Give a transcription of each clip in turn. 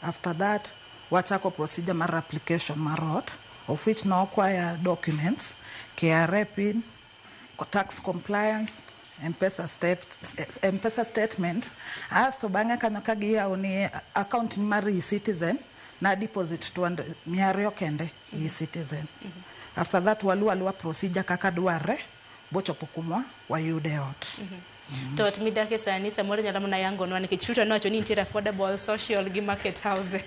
After that wachako procedure mar application mar ot of which ne okwaya documents, KRA pin, tax compliance, Mpesa step, Mpesa statement. Asto bang'e kanyo ka giyawo ni account ni mar e-citizen na deposit 200 mia ariyo kende e-citizen. After that waluwo aluwa procedure kaka dwarre. bochopo kumwa wayude e ot. Mm -hmm. to ot midake sani samoro nyalo mana yangonwa nikech ruto nowacho ni nitiere affordable social gi market houses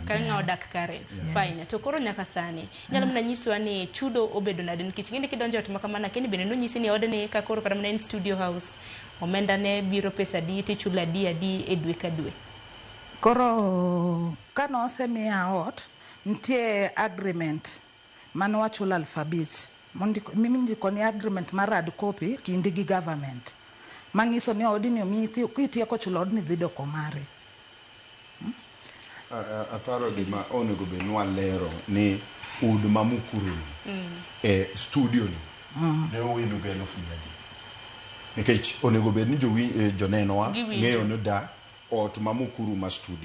kang'a odak kare fine to koro nyaka sani nyalo mana nyiswa ni chudo obedo nade nikech ng'eni kidonjo ot makamana keni bende nonyisi ni odni ka koro kata mana en studio house omenda ne biro pesa adi tichulo adi adi e dwe ka dwe koro ka nosemiya ot nitie agreement Mano wachulo aluf abich mondiko mindiko ni agreement mar hard copy kindi gi government mangiso ni odni omiyi ki- kitieko chulo odni dhi doko mari. A- a- aparo gima onego bed ni walero ni udi ma mukuruni e studio ni ne owinu gi elufu mia adek nikech onego bed ni jowi- eh, jonenowa Giwinjo. ng'eyo ni da ot ma mukuru ma studio